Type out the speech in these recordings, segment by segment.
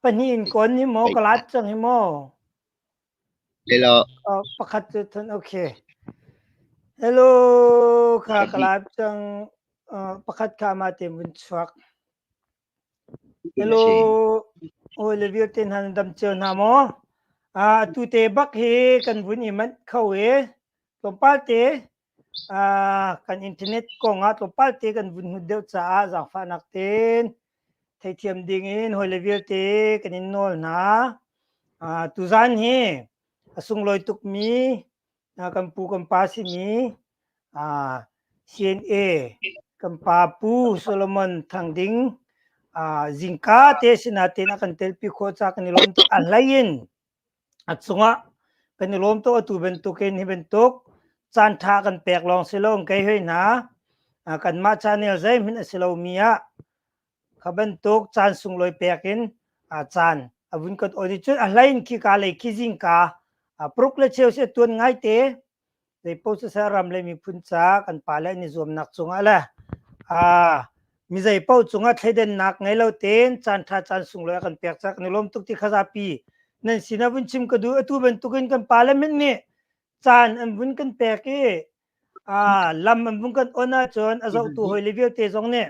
Pahnih in kawn hi maw ka lat cang hi maw? Pakhat cu than okay. Hello kha ka lat cang. Pakhat kha ma te mun chuak. Hello. Oi le viu ten han dam cheu na maw? A tu te bak hi kan vun i mat kho e. Tlawmpal te kan internet kong ah tlawmpal te kan vun hnut deuh caah zaangfahnak tein theithiam ding in hawile vialte kan in nawl hna. Tuzaan hi a sunglawi tukmi kan pu kan pa simi CNA kan pa Pu Solomon Thang Ding zingka te sinah tein a kan telpi khawh ca kan i lawm tuk. A hlei in a cungah kan i lawm tuk atu bantukin hi bantuk caan ṭha kan pek lawng si lo in kei hoi hna kanmah channel zeihmanh a si lomi ah kha bantuk caan sunglawi pek in caan a vun kan awn i cun a hlei in khika lei khizingka pruk le cheu si a tuan ngaite Zeipaoh siseh ram le miphun ca kan pa le an i zuamnak cungah le aa mi zeipaoh cungah thleidannak ngei lo tein caan ṭha caan sunglawi a kan pek cang. Kan i lawm tuk ti kha zapi nan sin ah vun chim ka duh. Atu bantukin kan pale mit nih caan an vun kan pek i aa lam an vun kan on ahcun a zohtu hawile vialte zong nih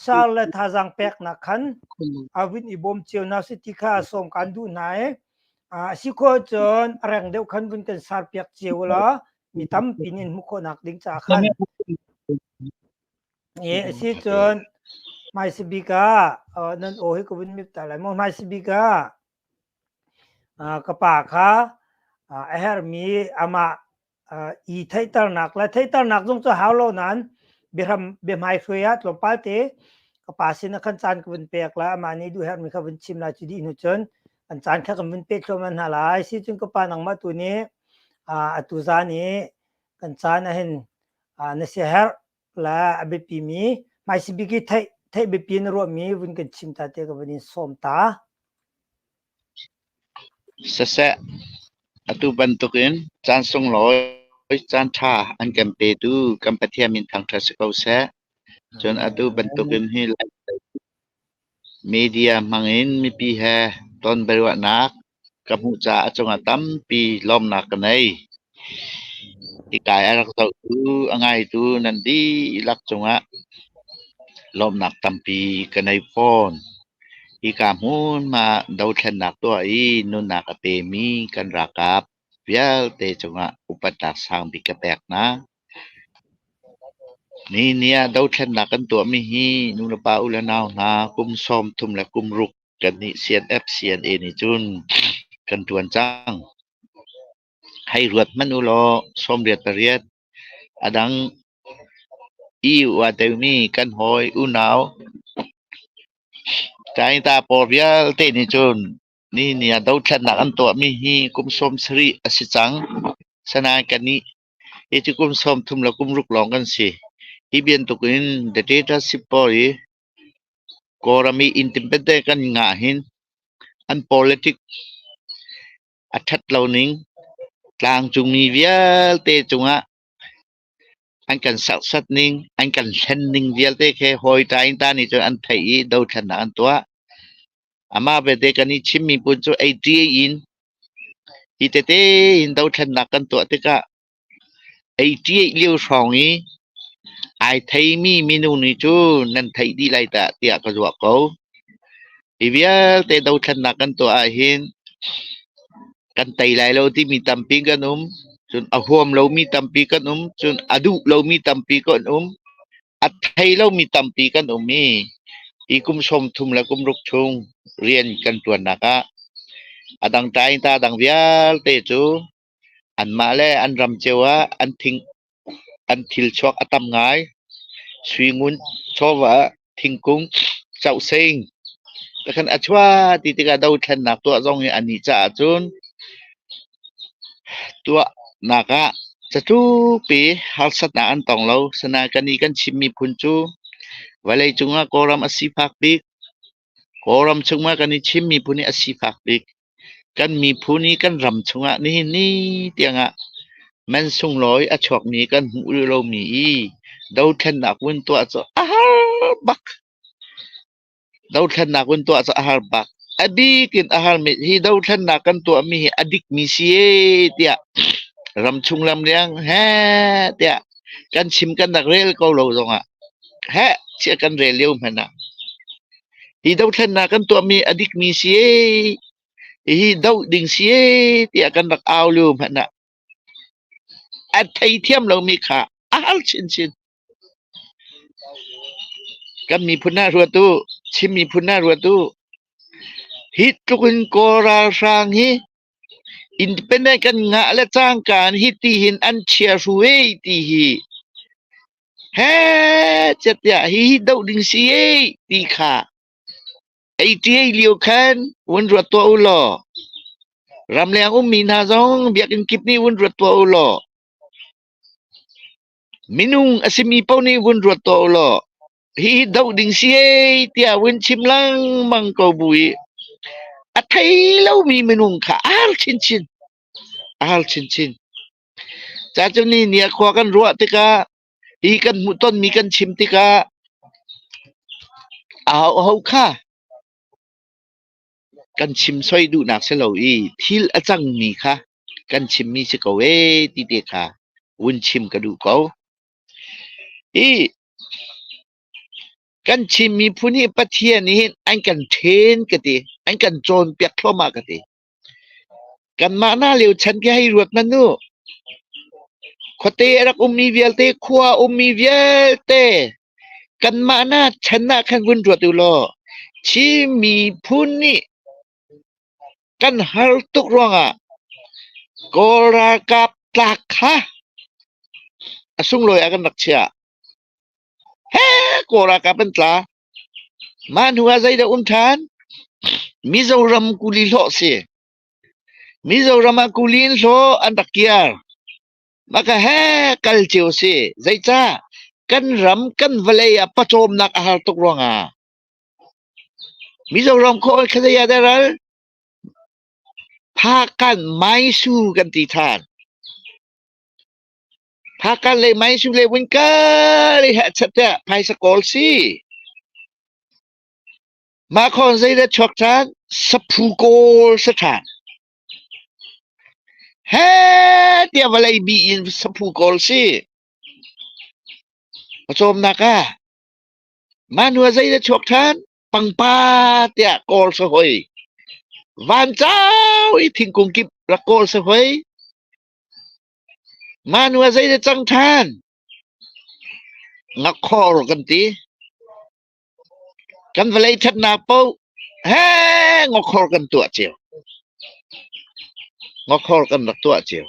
Saar le thazaang peknak khan a vun i bawm cio hna sih ti kha sawm kaan duh hna i a si khawh cun a reng deuh khan vun kan saar piak cio law mi tampi nih an hmuh khawhnak ding caah khan i a si cun hmaisi bik ah nan aw hi ka vun mip ta lai maw hmaisi bik ah ka pa kha a herhmi amah i theihternak le theihternak zung cu hau lo nain biahram biahmai hruai ah tlawmpal te ka pa sin ah khan caan ka vun pek la amah nih duh herhmi kha vun chim lai cu dih hnu cun an caan kha kan vun pek thluahmah hna lai si cun ka pa nangmah tu nih atu zan i kan caan ah hin na siaherh le a biapi mi hmaisabik i theih theih biapi na ruahmi vun kan chim ta te ka vun in sawm ta. Siseh, atu bantukin caan sunglawi caan ṭha an kan petu kan Pathian min thangṭhat si ko seh. Cun atu bantukin hi media hmangin mipi he tonbiaruahnak ka hmuh caah a cungah tampi lawmnak ka ngei. Hikai a rak zohtu, a ngaitu nan dihlak cungah lawmnak tampi ka nei fawn. Hika hmun ah dothlennak tuah i nunnak a pemi kan ralkap vialte cungah upatnak sangbik ka pek hna. Nihin ah dothlennak kan tuahmi hi nulepa u le nau hna kum sawmthum le kum ruk kan nih CNF CNA nih cun kan ṭuan cang. Hei ruat hmanh ulaw sawmriat pariat a dang i ua teumi kan hawi unau Cainta pawl vialte nih cun ni ni ah dothlatnak an tuahmi hi kum sawm sarih a si cang. Asinain kannih hicu kum sawm thum le kum ruk lawng kan si. Hi bantuk in the dictatorship pawl i Kawlram i independent kan ngah hin an politic A ṭhat lo ning, tlangcungmi vialte cungah an kan serhsat ning, an kan hlen ning vialte khi hawita in ta nih cun an theih i dothlennak an tuah. Amah belte kan i chimmi pun cu ei ṭi in hi tete in dothlennak kan tuah tikah Ei ṭiaih lio hrawng i ai theimi minu nih cu nan theih dih lai tah tiah ka ruah ko. Hi vialte dothlannak kan tuah ahhin kan tei lai lo timi tampi kan um. Cun a huam lomi tampi kan um. Cun a duh lomi tampi kan um. A thei lomi tampi kan um i hi kum sawmthum le kum ruk chung rian kan ṭuannak ah a dang ṭai in ta dang vialte cu Anmah le an ram cio ah an thilchuak a tam ngai. Sui ngun, chawva, thingkung, causeng te khan a chuah ti tikah dothlennak tuah zong hi a nih caah cun tuahnak ah catlupi harsatnak an tong lo. Asinain kan nih kan Chin miphun cu vawleicung ah Kawlram a sifak bik. Kawlram chungah kan i chim miphun hi a sifak bik. Kan miphun i kan ram chungah nihin ni tiangah man sunglawi a chuakmi kan hmuh rih lomi i dothlennak vun tuah cu a har bak. Dothlennak vun tuah cu a har bak. A bik in a har mi hi dothlennak kan tuahmi hi a dikmi si e tiah ram chung lam liang he tiah kan chim kan rak rel ko lo zongah heh chiah kan rel lio hmanh ah hi dothlennak kan tuahmi a dikmi si hihi doh ding si tiah kan rak au lio hmanh ah a thei thiam lomi kha a hal chinchin kan miphun ah ruat u Chin miphun ah ruat u hi tluk in kawl ralhrang hi independent kan ngah le cangka hi ti hin an chia ru ti hi Heh catiah hihi doh ding si ee ti kha ei ṭiai lio khan vun ruat tuah u law ramleng ummi hna zong biakinn kip nih vun ruat tuah u law minung a simi paoh nih vun ruat tuah u law hihi doh ding si ee tiah vun chim lengmang ko bu i a thei lomi minung kha a har chinchin a har chinchin. Ca cu nihni ah khua kan ruah tikah hi kan hmuhtonmi kan chim tikah ahoho kha kan chim soi duhnak si lo i thil a cangmi kha kan chimmi si ko ee ti te kha vun chim ka duh ko. Hi kan chim miphun hi Pathian nih hin an kan ṭhen ka ti, an kan cawnpiak thluahmah ka ti. Kanmah hna lio chan khi hei ruat hmanh u. Khuate a rak ummi vialte, khua a ummi vialte kanmah hna chan ah khan vun ruat u law Chin miphun nih kan har tuk ruangah Kawl ralkap tlak kha a sunglawi ah kan rak chiah. He Kawl ralkap an tla. Mah hnu ah zeidah um ṭhan? Mizoram kuli hlawh si. Mizoram ah kuli in hlaw an rak kiar. Maka he kal cio si. Zeicah? Kan ram kan vawlei ah pawcawmnak a har tuk ruangah. Mizoram khaw khalei ah daral Phakan Maisu kan ti ṭhan. Phakan le Maisu le Winka le hehchat te phaisa kawl si. Mah khon zeidah chuak ṭhan? Saphu kawl sa ṭhan. He tiah vawlei bi in saphu kawl si. Pawcawmnak ah manua zeidah chuak ṭhan? Pangpa tiah kawl sa hoi. Van cau i thingkung kip rak kawl sa hoi. Manu a zei na cang ṭhan? Ngakkhawh rawh kan ti. Kan vawlei ṭhatnak paoh heh ngokkhor kan tuah cio. Ngokkhor kan rak tuah cio.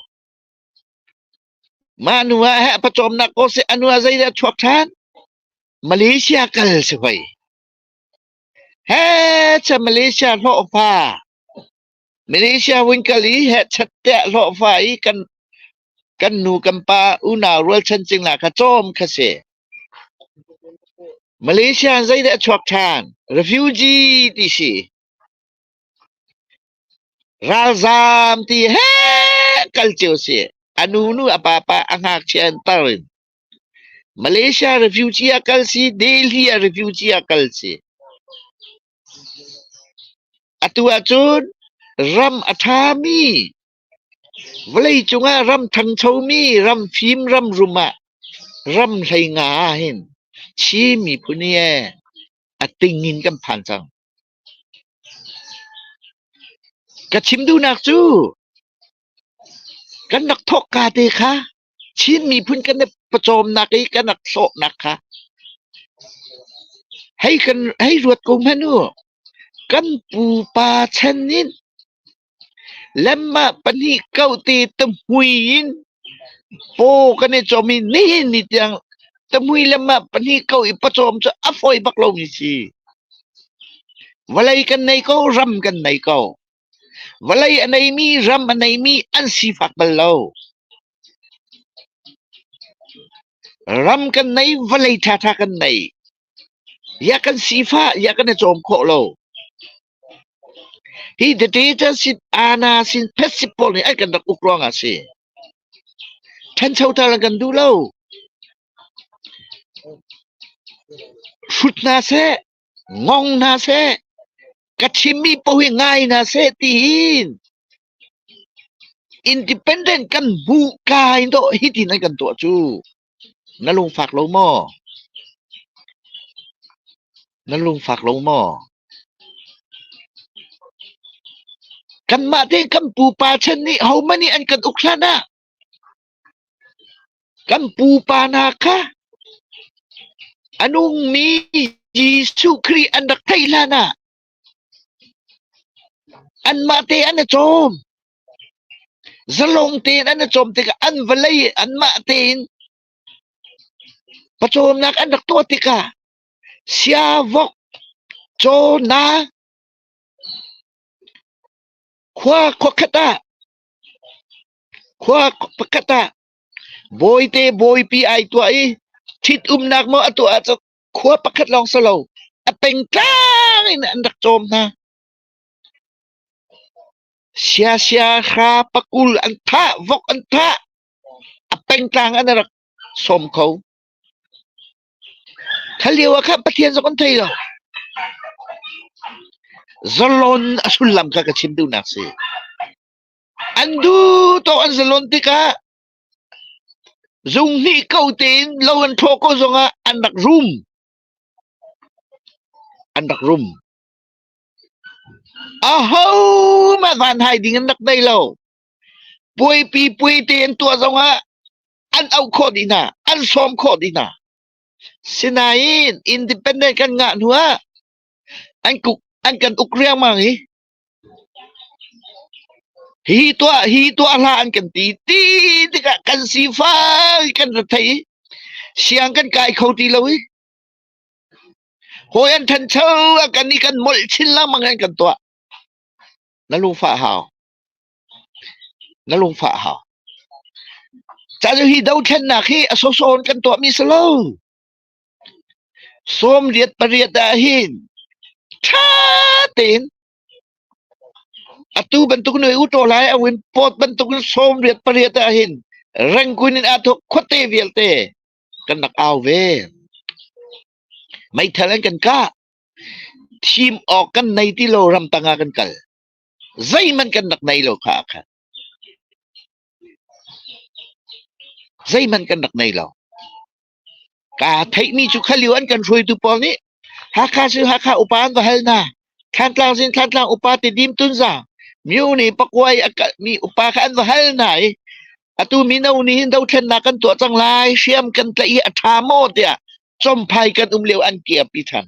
Manu ah heh pawcawmnak ko seh anu a zei dah a chuak ṭhan? Malaysia kal si hoi. Heh cha Malaysia hlawhfa. Malaysia vun kal i hetchet teh hlawhfa i kan kan nu kan pa unau rualchan cingla kha cawm kha si. Malaysia in zeidah a chuak ṭhan? Refugee ti si. Ralzaam ti he kal cio si. A nu nu a pa pa a ngakchia in tar in. Malaysia refugee a kal si, Delhi a refugee a kal si. Atu ahcun ram a ṭhami, vawlei cungah ram ṭhanchomi, ram fim, ram rum ah ram hleinga ahhin Chin miphun hi ee a ting in kan phan cang. Ka chim duhnak cu Kan rak thawhka te kha Chin miphun kan i pawcawmnak i kan rak sawhnak kha hei kan hei ruat ko hmanh u. Kan pupa chan in lemmah pahnih kau te tahmui in paw kan i cawm i nihin ni tiang tahmui lemmah pahnih kau i pawcawm cu a fawi bak lomi si. Vawlei kan nei ko, ram kan nei ko. Vawlei a neimi, ram a neimi an sifak bal lo. Ram kan nei, vawlei ṭhaṭha kan nei. Iah kan sifah, iah kan i cawm khawh lo. Hi dictator sin, ana sin, phet sin pawl nih an kan rak uk ruangah a si. Ṭhancho ṭhan an kan duh lo. Hrut hna seh, Ngong hna seh, ka chimmi paoh hi ngai hna seh tiin independent kan hmuh ka in dawh hitin an kan tuah cu na lungfak lo maw na lungfak lo maw kanmah te kan pupa chan nih homan nih an kan uk hlan ah Kan pupa hna kha a nungmi Jesuh Khrih an rak theih hlanah anmah te an i cawm. Zalong tein an i cawm tikah an vawlei anmah tein pawcawmnak an rak tuah tikah siavok, cawna, khua khuakhat ah Khua pakhat ah bawite bawipi ai tuah i ṭhitumnak maw a tuah ahcun khua pakhat lawng si lo a pengtlang in an rak cawm hna. Siasia hra pakul an thah, vok an thah, a pengtlang an rak sawm kho. Thalio ah khan Pathian zong an thei lo. Zalon a sullam kha ka chim duhnak si. An duhtawk an si lonh tikah zunghnih ko tein lo an ṭhaw ko zongah an rak rum. An rak rum. Ahohmanh vanhai ding an rak thei lo. Puaipi puai te an tuah zongah an auh khawh dih hna, an sawm khawh dih hna. Sinain independent kan ngah hnuah an kuk an kan uk riangmang i Hi tuah hi tuah hlah an kan ti. Ti tikah kan sifak i kan rethei i siang kan kai kho ti lo i hawi an thancho a kan i kan molh chin lengmang in kan tuah. Na lungfah hau. Na lungfah hau. Cahcu hi dothlennak hi a sawsawn kan tuahmi si lo. Sawmriat pariat ahhin ṭha tein atu bantuk in utaw lai ahhin pawt bantukin sawmriat pariat ahhin rengkuin in aa thawk khuate vialte kan rak au ve. Meithal an kan kah. Thim awk kan nei ti lo ramtang ah kan kal. Zeihmanh kan rak nei lo kha ah khan. Zeihmanh kan rak nei lo. Kaa theihmi cu kha lio an kan hruaitu pawl nih Hakha Sui Hakha upa an va hal hna. Thlantlang Zin Thlantlang upa Tidim Tunza, minu nih pakua i a kalhmi upa kha an va hal hna i atu mino nih hin dothlennak kan tuah cang lai, hriam kan tlaih hi a ṭha maw tiah Chawmphai kan um lio an kiapi ṭhan.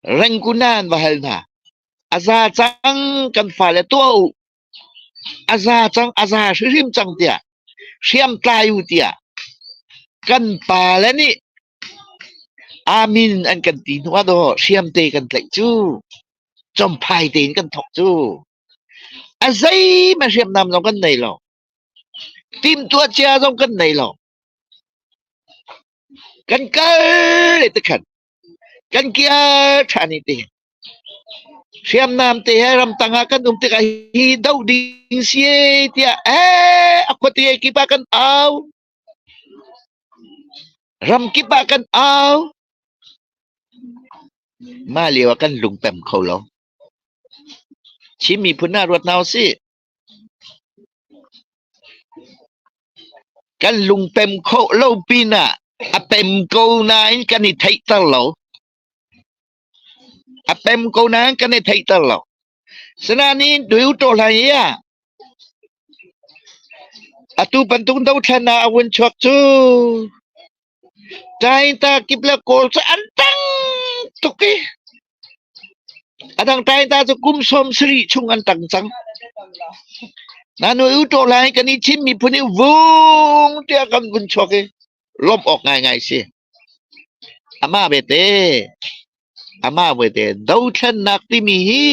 Rengkuna an va hal hna. A za cang kan fale tuah u. A za cang a za hrimhrim cang tiah hriamtlai u tiah kan pa le nih amin an kan ti hnu ah daw hriamte kan tlaih cu comphai tein kan thawk cu a zeima hriamnam zong kan nei lo timtuah cia zong kan nei lo kan kal le tikhan kan kir ṭhan i ti. Hriamnam te he ramtang ah kan um tikah hi doh ding si tiah eh a khuate kip ah kan au. Ram kip ah kan au. Mah lio ah kan lung pem kho lo. Chin miphun ah ruat hna u sih. Kan lung pem khawh lo pinah a pem ko nain kan i theihter lo. A pem ko nain kan i theihter lo. Asinain Duhto hlei ah atu bantuk dothlan ah a vun chuak cu Tainta kip le kawl cu an tang tuk i a dang tainta cu kum sawm sarih chung an tang cang. Nanu i utaw lai kan i thim miphun i vung tiah kan vun chuak i lawmh awk ngaingai a si. Amah vete, amah vete, dothlennak timi hi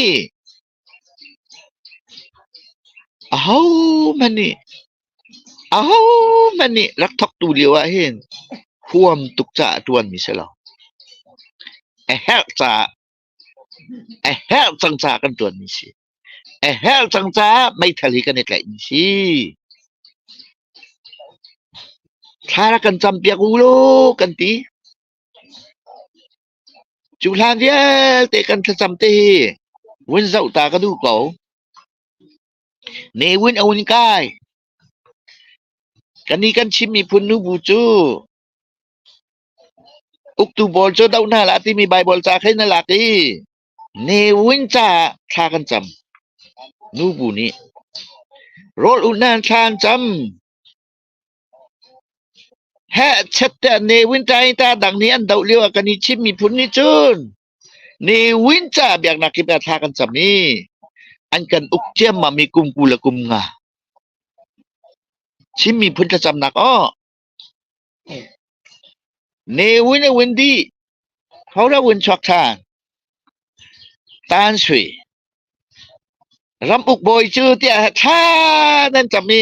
Ahohmanh nih rak thawktu lio ahhin huam tuk caah ṭuanmi si lo. A herh caah a herh cang caah kan ṭuanmi si. A herh cang caah meithal hi kan i tlaihmi si. Thla rak kan campiak u law kan ti. Cu hlan vialte kan thlacam te hi vun zoh ta ka duh ko. Ne vun a hun kai. Ka nih kan chim miphun nu bu cu uktu pawl cu doh hna hlah timi Baibal ca khin na lak i ne vun ca ah thla kan cam. Nu bu nih rawl unh hna an thla an cam. Heh chette ne wintaita dang nih an doh lioah kan i chimmi phun nih cun ne win caah biaknak kip ah thla kan cam i an kan uk ciammam i kum kul a kum nga. Chimmi phun thlacamnak aw. Ne win a win dih. Khora win chuak than. Tan sui. Ram uk bawi cu tiah tha nan cam i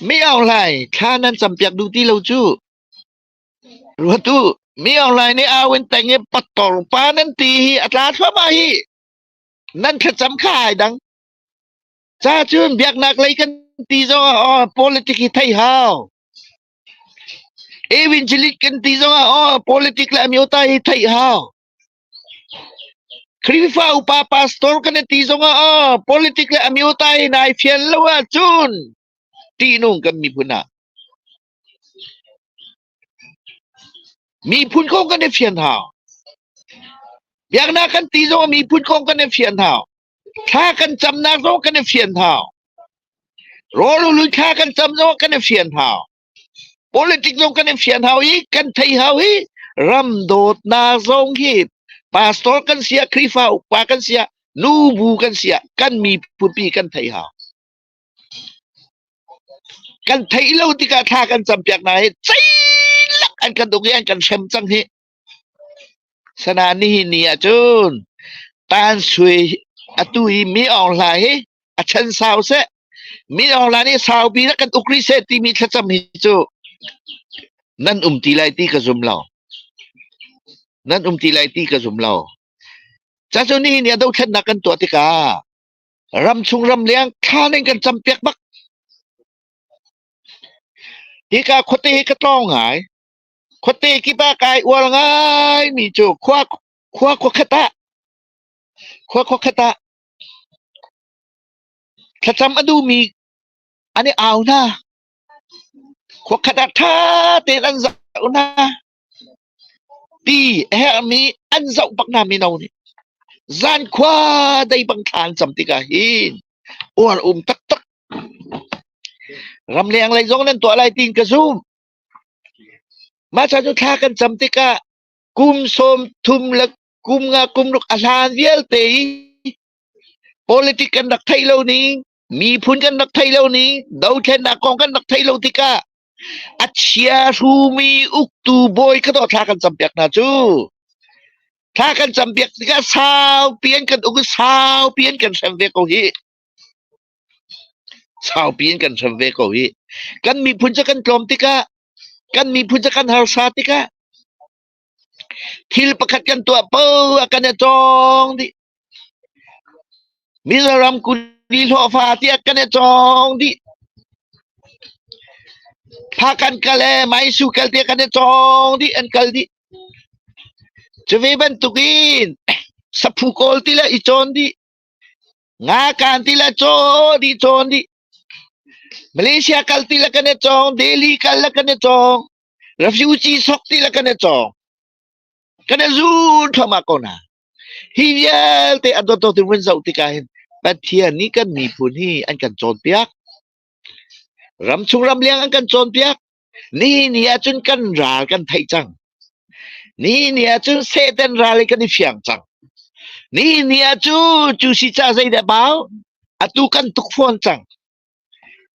Mi ohlai thla nan campiak duh ti lo cu. Ruat u, mi ohlai nih au in teng i pattor pa nan ti hi a tla thluahmah hi. Nan thlacam kha ai dang. Ca cun biaknak lei kan ti zongah aw politik hi thei hau. Evangelist kan ti zongah aw politik le amyota hi thei hau. Khrihfa upa pastor kan i ti zongah oh, politic le a miotai nai fial lo ahcun ṭihnung kan miphun ah miphun kong kan i fian hau. Biaknak kan ti zongah miphun kong kan i fian hau. Thla kan camnak zong kan i fian hau. Rawl ulun thla kan cam zongah kan i fian hau. Politik zong kan in fian hau i kan thei hau hi ram dawtnak zong hi pastor kan si ah Khrihfa upa kan si ah nu bu kan si ah kan mipupi kan thei hau. Kan theih lo tikah thla kan campiak hna i ceilak an kan uk i an kan hrem cang hi Sana nihin ni ahcun Tan Sui atu i Mi Aung Hlaing hi a chan sau seh, Mi Aung Hlaing nih saupi in a kan uk rih seh timi thlacam hi cu nan um ti lai ti ka zum lo. Nan um ti lai ti ka zum lo. Cacu nihin ni ah dothlennak kan tuah tikah ramchung ramleng thlan in kan cam piak bak. Hika khuate hi ka tlawng ngai. Khuate kip ah kai uar ngaimi cu khua khua khuakhat ah khua khuakhat ah thlacam a duhmi an i au hna. Khua khat ah ṭha tein an zoh hna. Ti a herhmi an zoh bak hna mino nih zankhua dei bang thla an cam tik ah hin uar um taktak. Ramleng lei zong nan tuah lai tiin ka zumh. Mah cu thla kan cam tikah kum sawm thum le kum nga kum ruk a hlan vialte i politic kan rak theih lo ni, miphun kan rak theih lo ni, dothlennak kong kan rak theih lo tikah a chia hrumi uktu bawi ka dawt thla kan campiak hna cu. Thla kan campiak tikah saupi an kan uk i saupi an kan hrem ve ko hih. Saupi in kan hrem ve ko hih. Kan miphun cu kan tlawm tikah, kan miphun cu kan harsa tikah, thil pakhat kan tuah poh ah kan i cawng dih. Mizoram kuli hlawhfa tiah kan i cawng dih. Phakan kal le Maisu kal tiah kan i cawng dih, an kal dih. Cu ve bantuk in saphu kawl ti le i cawn dih. Ngakan ti le caw dih cawn dih. Malaysia kal ti le kan i cawng. Delhi kal le kan i cawng. Refugee sok ti le kan i cawng. Kan i zul thluahmah ko hna. Hi vialte a dawtdawt in vun zoh tikah hin Pathian nih kan miphun hi an kan cawnpiak. Ram chung ram liang an kan cawnpiak. Ni ni ahcun kan ral kan theih cang. Ni ni ahcun Satan ral i kan i fiang cang. Ni ni ahcu cu si ca zeideh bau? Atu kan tuk fawn cang.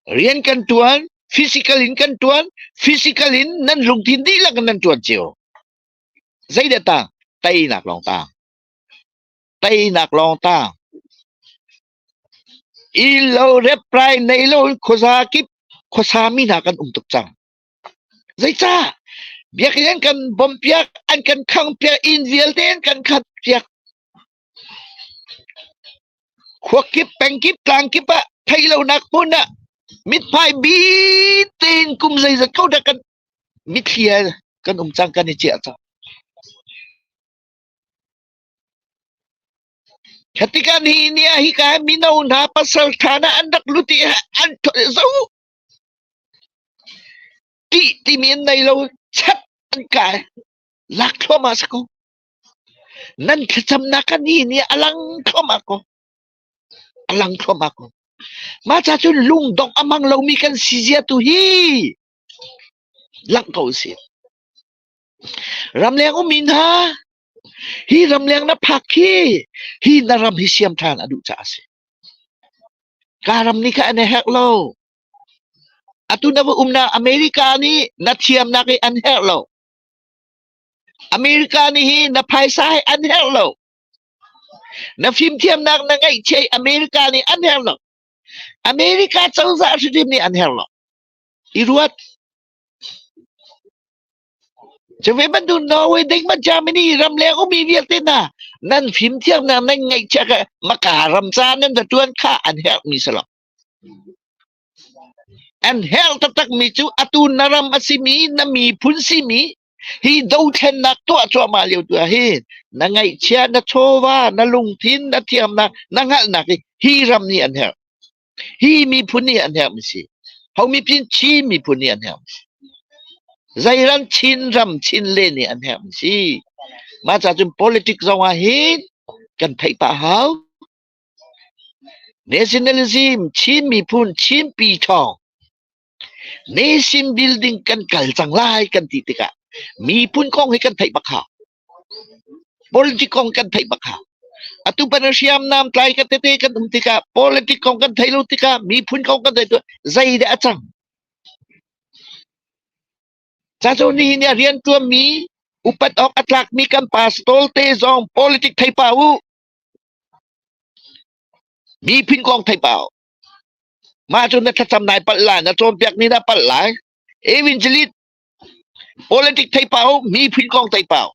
Rian kan tuan, physical in kan tuan, physical in nan lungthin dihlak in nan tuan cio. Zeideh tang? Teinak lawng tang. Teinak lawng tang. Ilo reprai nei lo in khuasa kip khuasa mi hna kan um tuk cang. Zeicah? Biakinn an kan bawmh piak, an kan khangh piak, inn vialte an kan khat piak. Khua kip, peng kip, tlang kip ah thei lonak hmun ah mithmai bit tein kum zeizat ko dah kan mithli ah kan um cang, kan i ciah cang. Kha tikah nihin ni ah hika mino hna pasalṭha hna an rak lut i an zoh tih timi an nei lo chat an kai lak thluahmah si ko nan thlacamnak ka nihin ni a lang thluahmah ko a lang thluahmah ko mah ca cun lungdongh a mang lomi kan si zia tu hi langh ko usih ramleng um mi hna Hi ramleng na phak khi hi na ram hi siam ṭhan a duh caah a si. Ka ram nih kha an i herh lo. Atu na va umnak America nih na thiamnak hi an herh lo. America nih hi na phaisa hi an herh lo. Na fimthiamnak na ngeihchih hi America nih an herh lo. America cozah hrim nih an herh lo. I ruat. Cuvi bantuk Norway dengmah Germany ramleng ummi vialte hna nan fimthiamnak nan ngeihchiah kha hmaka ram ca nan hnaṭuan kha an herhmi si lo. An herh taktakmi cu atu na ram a simi na miphun simi hi dothlennak tuah cuahmah lio tu ah hin na ngeihchia, na chawva, na lungthin, na thiamnak, na hngalhnak hi hi ram nih an herh. hi miphun hi a hnemh si ho miphin Chin miphun hi a hnemh si zeiran Chin ram Chin le nih a hnemh si mah ca cun politics zong ah hin kan theih pah hau nationalism Chin miphun Chin pi thawng nation building kan kal cang lai kan ti tikah miphun kong hi kan theih bak hau Politic kong kan theih bak hlah. Atu pan a hriamnam tlai ka tete kan um tikah politic kong kan thei lo tikah miphun kong kan thei zei dah a cang? Ca cu nihin i a rian ṭuanmi upat awk a tlakmi kan pastor te zong politic thei pa u. Miphun kong thei pa u. Mah cu na thlacam nai palh lai, na cawnpiak ni na palh lai. Evangelist Politic theipau, miphun kong theipau.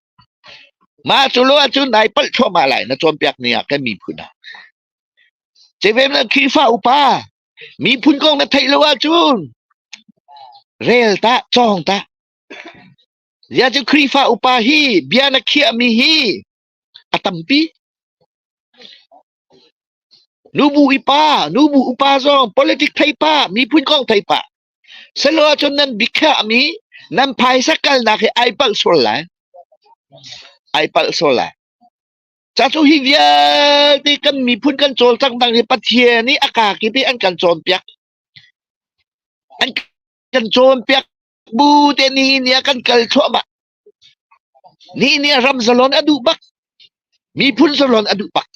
Mah cu lo ahcun nai palh thluahmah lai na cawnpiak ni ah kan miphun ah. Cevem na Khrihfa upa miphun kong na theih lo ahcun rel tah cawng tah. Zia cu Khrihfa upa hi bia na khiahmi hi a tampi. Nubu ipa, nubu upa zong politic thei pah, miphun kong thei pah. Salo ahcun nan biakhiahmi nan phaisa kalnak hi ai palh sual lai. Ai palh sual lai. Ca cu hi vialte kan miphun kan cawlcanghnak hi Pathian nih a kakip i an kan cawnpiak. An kan cawnpiak bu te ni ni ah kan kal thluahmah. Nih nih ram zalon a duh bak. Miphun zalon a duh bak.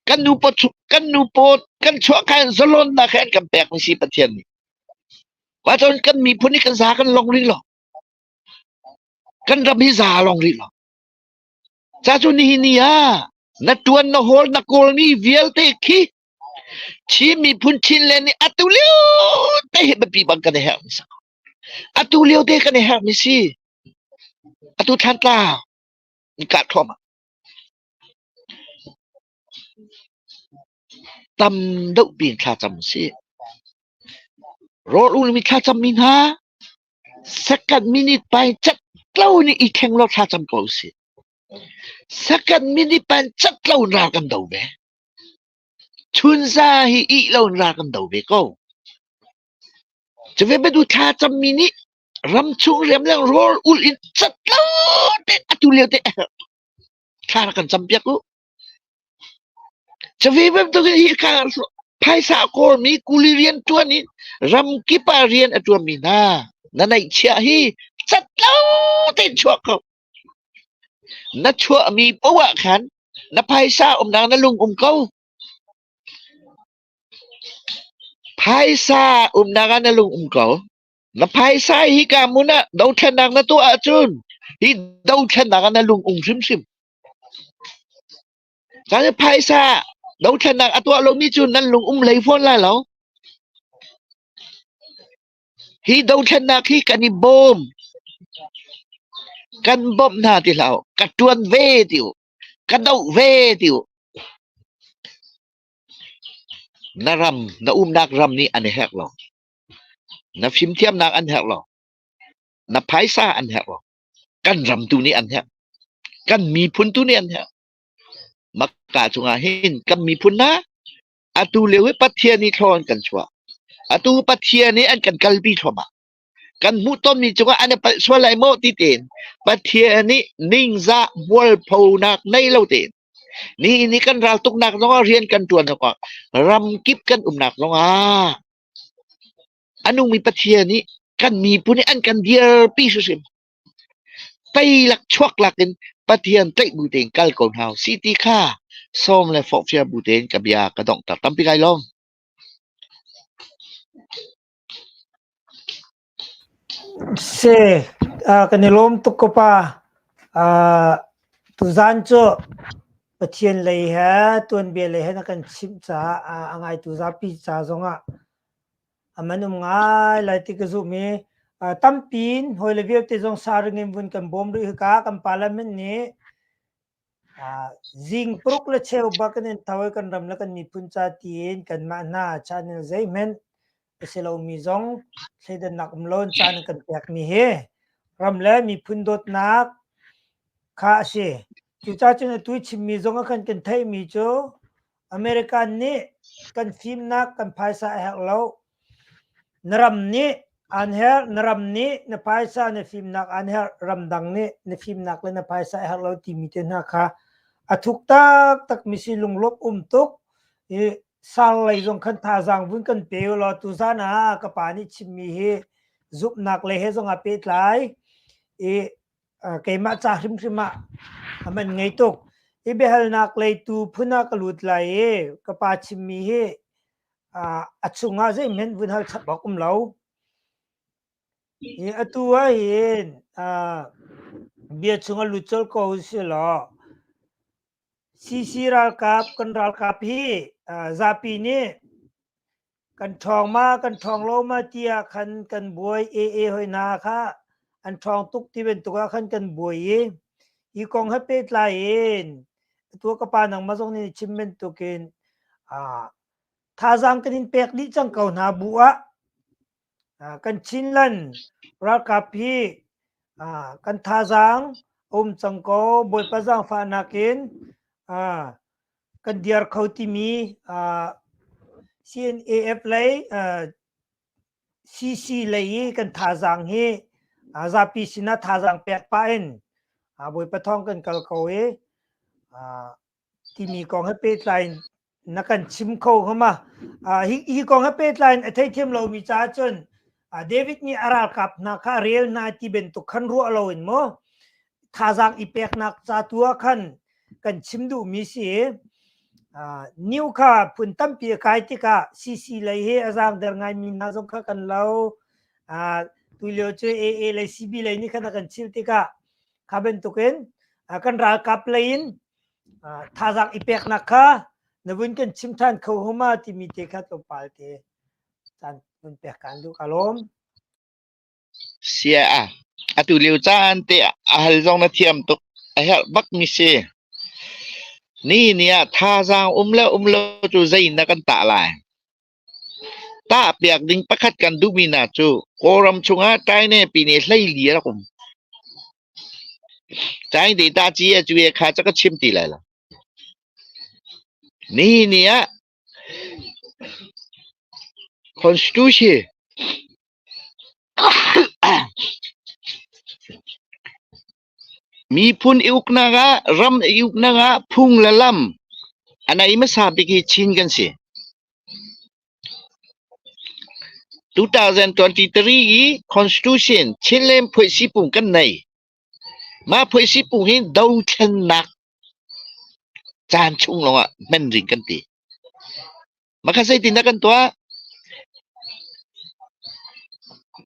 Kan nu paw chu- kan nu paw kan chuah kha in zalonnak he an kan pekmi si Pathian nih. Cun kan miphun hi kan za kan long rih lo. Kan ram hi za long rih lo. Ca cu nihin ni ah na tuan na hawl na kawlmi vialte khi Chin miphun Chinland nih atu lio te hi biapi bang kan i herh hmasa ko. Atu lio te kan i herhmi si. Atu thlantla in kah thluahmah. Tam dohpi in thlacam usih. Rawl ulimi thlacammi hna second minute pai cat lo in i thleng law thlacam ko usih. Second minute pai cat lo in ral kan do ve. Chunza hi ih lo in ral kan do ve ko. Cuve Badu thla cammi nih ram chung riam le rawl ul in cat lo tein atu lio teh thla rak kan campiak u. Cuve bantukin hika phaisa a kawlmi kuli rian ṭuan in ramkip ah rian a ṭuanmi hna na neihchiah hi cat lo tein chuah ko. Na chuahmi poah khan na phaisa umnak na lung um ko. Phaisa umnak ah na lung um ko. Na phaisa hi ka hmun ah dothlennak na tuah ahcun hi dothlennak ah na lung um hrimhrim. Cang i phaisa dothlennak a tuah lomi cu nan lung um hlei fawn lai lo. Hi dothlennak hi kan i bawm. Kan bawmh hna ti hlah u. Ka ṭuan ve ti u. Ka doh ve ti u. Na ram, na umnak ram nih an i herh lo. Na fimthiamnak an herh lo. Na phaisa an herh lo. Kan ram tu nih an herh. Kan miphun tu nih an herh. Makka chungah hin kan miphun hna atu lio hi Pathian nih thlaw an kan chuah. Atu Pathian nih an kan kalpi thluahmah. Kan hmuh tawnmi cungah an i palh sual lai maw ti tein Pathian nih ningzah mualphonak nei lo tein nihin i kan raltuknak zongah rian kan ṭuan awkah ramkip kan umnak zongah a nungmi Pathian nih kan miphun nih an kan dirpi hrimhrim teilak chuaklak in Pathian tlaih bu tein kal ko hna u si ti kha sawm le forhfial bu tein ka bia ka donghter tampi kai lawm. Se kan i lawm tuk ko pa. Aa tuzaan cu Pathian lei he tuanbia lei he na kan chimh caah a ngaitu zapi ca zongah a man um ngai lai ti ka zumh i aa tampi in hawile vialte zong sa ring in vun kan bawm rih hika kan parliament nih Zing paruk le cheu bak in an tho i kan ram le kan miphun ca tiin kanmah hna caan in zeihmanh a si lomi zong thleidannak um lo in caan an kan pekmi hi ram le miphun dawtnak kha a si. Cucacun atu i chimmi zong a kan kan theihmi cu American nih kan fimnak kan phaisa a herh lo. Na ram nih an herh, na ram nih na phaisa na fimnak an herh, ramdang nih na fimnak le na phaisa a herh lo timi te hna kha a thuk taktakmi si lunglawmh um tuk. I sar lei zong khan thazaang vun kan pe u law tuzan ah ka pa nih chimmi hi zumhnak le he zong a pehtlai. I keimah ca hrimhrim ah a man ngei tuk. I biahalnak lei tu phun ah ka lut lai i ka pa chimmi hi a chungah zeihmanh vun hal chap awk um lo. Atu ahhin bia chungah lut colh ko usihlaw CC ralkap kan ralkap hi zapi nih kan ṭhawng ma kan ṭhawng lo ma tiah khan kan buai ee hoi hna kha an ṭhawng tuk ti bantuk ah khan kan buai i hi kong he pehtlai in tua ka pa nang ma zong nih chim bantuk in thazaang kan in pek dih cang ko hna bu ah kan Chinland ralkap hi kan thazaang a um cang ko Bawipa zaangfahnak in kan diar kho timi uh, CNAF lei uh, CC lei i kan thazaang hi uh, zapi sinah thazaang pek pa in uh, boi pathong kan kal ko i uh, timi kong he petlai na kan chim kho hama uh, hi, hi kong he petlai a thei thiam lo mi cha chun uh, David ni aral kap na kha rel na ti ben tu khan ru lo in mo thazaang i peknak ca tu ah khan kan chim duhmi si new kha phun tampi a kai tikah CC lei he a zaangder ngaimi hna zong kha kan lo tulio cu AA lei CB lei nih khan a kan chil tikah kha bantukin kan ralkap lei in thazaang i peknak kha na vun kan chim than kho homa timi te kha tlawmpal te caan vun pek kan duh ka lawm Atulio caan te ah a hal zong na thiam tuk. A herh bakmi si. Nihin ah thazaang um le um lo cu zei in dah kan tah lai? Tah piak ding pakhat kan duhmi hna cu Kawlram chungah China pine hleili a rak um. China data ci a cuye kha ca ka chim ti lai lo. Nihin ah Constitution miphun i uknak ah ram i uknak ah phung le lam a nei hmasa bik hi Chin kan si. 2023 i Constitution Chinland Phuih Sipung kan nei. Mah phuaisipung hi dothlennak caan chung lawngah hman ding kan ti. Makha zeitin dah kan tuah?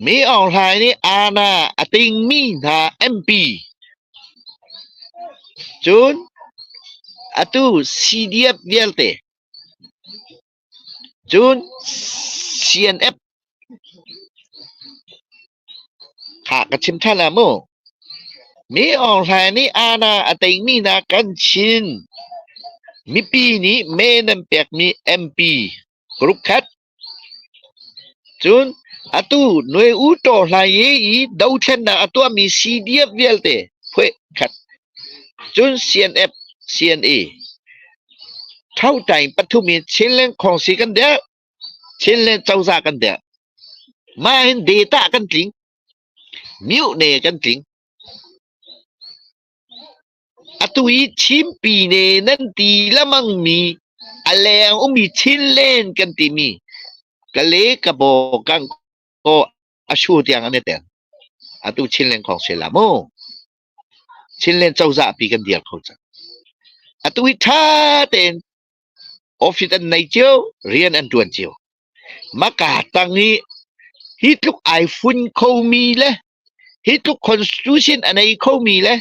Mi Aung Hlaing nih ANA a tingmi hna MP cun atu CDF vialte Cun CNF kha ka chim ṭhan ah mu, Mi Aung Hlaing nih Aana a teimi hna kan Chin mipi nih mee nan pekmi MP group khat, cun atu Nwe U Taw Hlaing i dothlennak a tuahmi CDF vialte phueh khat Cun CNF, CNE, thotain pathum in Chinland khawngsi kan dirh. Chinland cozah kan dirh. Mah hin data kan tling. Mute kan tling. Atu i Chinpi ne nan ti lamang mi a leng umi Chinland kan timi Kale Kabo Kangko a shu tiang an i tel. Atu Chinland khawngsi la mu. Chinland cozah pi kan dir kho cang. Atu hi tha tein office an nei cio, rian an tuan cio. Maka tang hi hi tluk ai fun kho mi le hi tluk constitution a nei kho mi le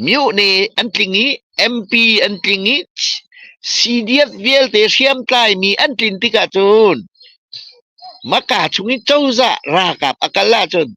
myohne an tling i MP an tling i CDF vialte hriamtlai mi an tlin tikah cun Maka chung i cozah ralkap a kal ahcun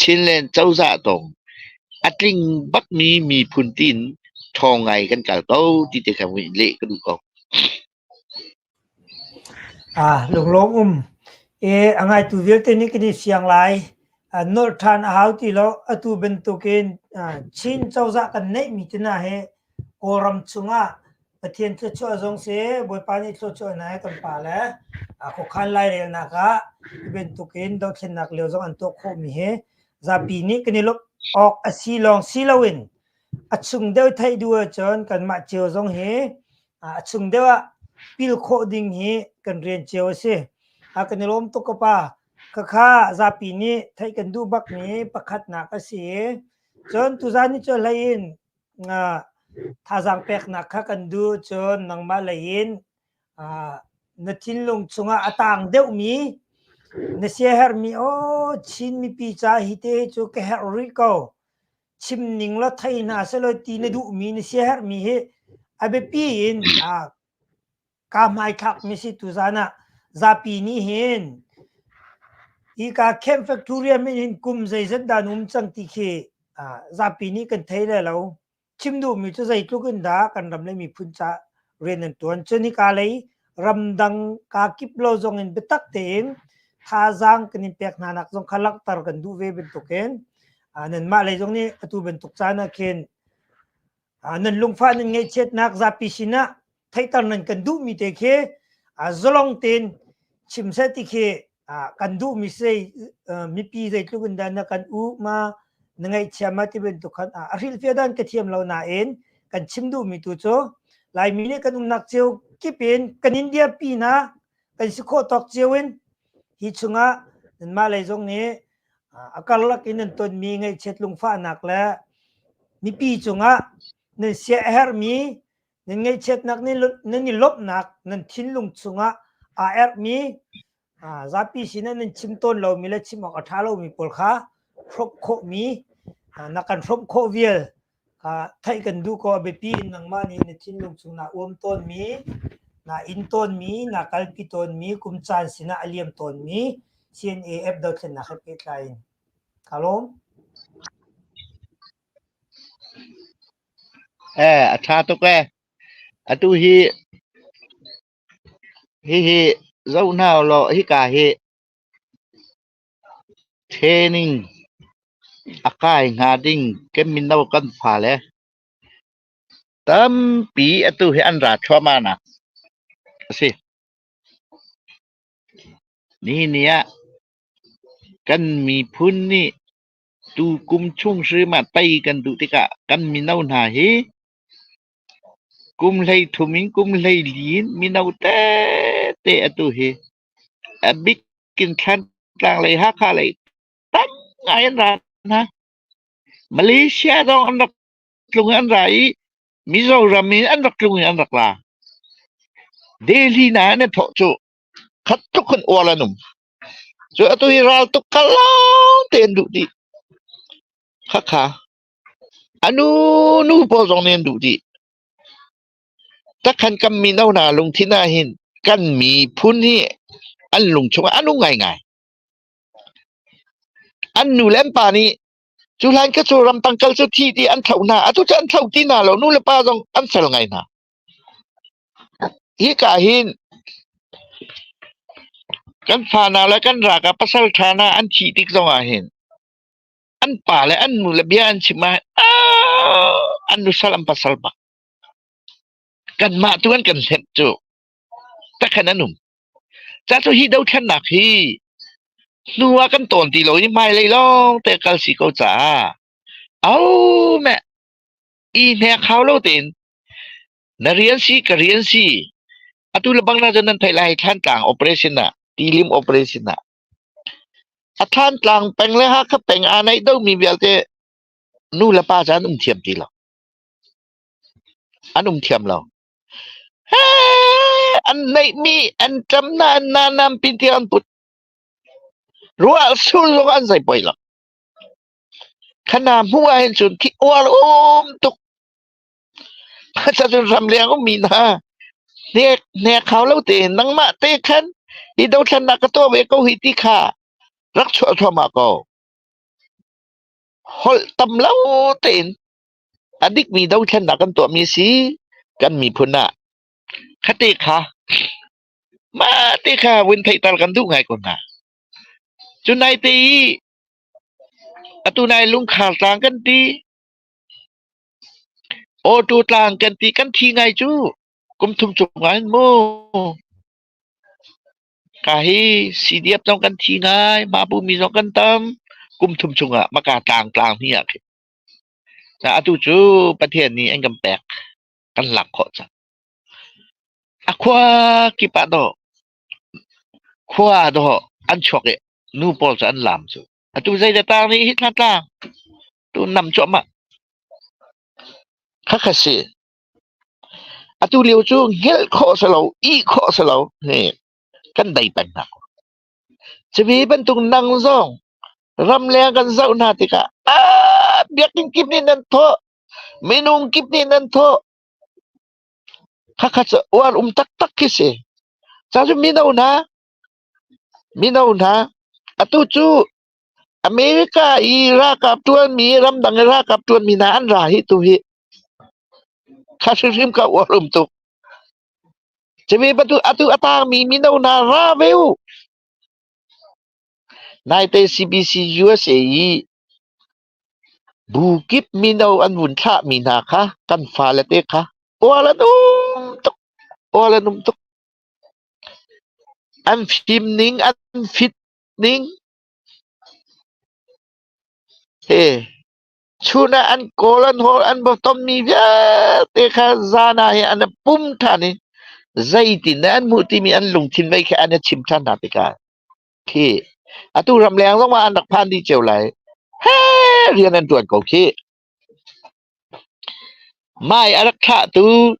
Chinland cozah tawng a tling bakmi miphun tiin ṭhawng ngai kan kal ko ti te kan leh ka duh ko. Lunglawm um a ngaitu vialte nih kan i siang lai. Nolh ṭhan a hau ti lo. Atu bantukin Chin cozah kan neihmi te hna hi Kawlram chungah Pathian thluachuah zong si, Bawipa nih thluachuah in a kan pale khuakhan lairelnak ah hi bantukin dothlennak lio zong an tuah khawhmi hi zapi nih kan i lawmh awk a si lawng si loin a chung deuh theih duh ahcun kanmah cio zong hi a chung deuh ah pil khawh ding hi kan rian cio a si. A kan i lawm tuk ka pa. Khakha zapi nih theih kan duh bakmi pakhatnak a si i cun tuzan ni cu hlei in thazaang peknak kha kan duh cun nangmah lei in na thinlung chungah a taang deuhmi na siaherhmi aw Chin mipi ca hi te cu ka herh rih ko chim ning law thei hna selaw ti na duhmi na siaherhmi hi a biapi in Ka hmaithlak misitu zan ah zapi nih hin hika camp factorium in hin kum zeizat dah na um cang ti khi ah, zapi nih kan thei le lo. Chim duhmi cu zeitluk in dah kan ram le miphun ca rian an tuan. Cun hika lei ramdang kaa kip lo zong in biatak tein thazaang kan in pek hna nak zong kha langhter kan duh ve bantukin ah, nanmah lei zong nih atu bantuk caan ah khin nan lungfah nan ngaihchiatnak zapi sinah theihter nan kan duhmi te khi zalong tein chim seh ti khi kan duhmi sei mipi zeitluk in dah na kan u ma na ngaihchia ma ti bantuk khan a hrilhfiah dan ka thiam lo nain kan chim duhmi tu cu laimi nih kan umnak cio kip in kan india pi na kan si khawh tawk cio in hi chungah nanmah lei zong nih a karlak in nan tonmi ngaihchiat lungfahnak le mipi cungah nan siaherhmi nan ngaihchiatnak nan i lawmhnak nan thinlung chungah aa erhmi zapi sinah nan chim tawn lomi le chim awk a ṭha lomi pawl kha hrawk khawhmi na kan hrawmh khawh vial theih kan duh ko a biapi in nangmah nih na thinlung chung naa uam tawnmi, naa inn tawnmi, naa kalpi tawnmi, kum caan sinah a liam tawnmi CNAF dothlennak he pehtlai in ka lawm. Eh, a tha tuk e. Atu hi hihi zoh hna u law hika hi Training a kai hnga ding kan mino kan fale tampi atu hi an ra thluahmah nak a si. Nihin ah kan miphun nih tukum chung hrim ah tei kan duh tikah kan mino hna hi Kum hleithum in kum hleili in mino tete atu hi a bik in Thantlang lei Hakha lei tam ngai an ra hna. Malaysia zong an rak tlung i an ra i Mizoram in an rak tlung i an rak ra. Delhi hna in an thawh cu khat tluk khin uar an um. Cu atu hi raltuk kha lawngte an duh dih. Khakha. A nu nu pawl zong nih an duh dih. Takhan kan mino hna lungthin ahhin kan miphun hi an lung chungah a nung ngaingai. An nu le an pa nih cu hlan ka cu ramtang kal cu thi ti an tho hna. Atu cu an tho ti hna lo. Nu le pa zong an fel ngai hna. Hika hin kan fa hna le kan ralkap pasaltha hna an thih tik zong ahhin An pa le an nu le bia an chim ah an nusal an pasal bak kanmah tu an kan hlenh cu takhan an um ca cu hi dothlennak hi hnu ah kan tawn ti lo i hmailei lawng te kal si ko caah au meh i hne khau lo tein na rian si ka rian si atu le bang na cun nan theih lai hlan tlang operation ah tilim operation ah A Thlantlang peng le Hakha peng aa naih domi vialte nu le pa cu an um thiam ti lo. An um thiam lo. An neihmi, an ṭam hna, an nanampi tiang an put. Ruah sur zong an zei poi lo. Khana hnu ahhin cun thi uar um tuk. Cun ramleng ummi hna hnek hau lo tein nangmah te khan i dothlannak ka tuah ve ko hi ti kha rak chuah thluahmah ko. Holh tam lo tein a dikmi dothlannak kan tuahmi a si kan miphun ah. Khate kha mah te kha vun theihter kan duh ngai ko hna. Cu nai te i atu nai lungkhar tlang kan ti. Awtu tlang kan ti kan thi ngai cu kum thum chung ah hin mu. Ka hi CDF zong kan thi ngai, Mapumi zong kan tam. Kum thum chung ah maka tlang tlang hi ah khi. Ca atu cu Pathian nih an kan pek. Kan lak khawh cang. A khua kip ah dawh, khua dawh an chuak i nu pawl cu an laam cu. Atu zeidah taar nih hi hna tla? Tu nam cuahmah. Khakha si. Atu lio cu ngilh khawh si lo, ih khawh si lo. Hi kan dei peng hna. Cuvi bantuk nang zong ramleng kan zoh hna tikah ah biakinn kip nih nan thawh, minung kip nih nan thawh. Khakha cu uar um taktak khi si. Ca cu mino hna, Mino hna, atu cu America i ralkap ṭuanmi, ramdang i ralkap ṭuanmi hna an ra hi tu hi kha hrimhrim ka uarum tuk. Cumi bantuk atu a tangmi mino hna ra ve u. Naite CBC USA i bu kip mino an vun thlahmi hna kha kan fale te kha ual an um tuk, ual an um tuk. An fim ning, an fit ning he chun ah an kawl, an hawl, an bawtommi vialte kha zan ah hi an i pum ṭhan i zeitindah an hmuh timi an lungthin vei kha an i chim ṭhan hna tikah khi atu ram leng zongah an rak phan dih cio lai. He rian an ṭuan ko khi. Mai a rak thlahtu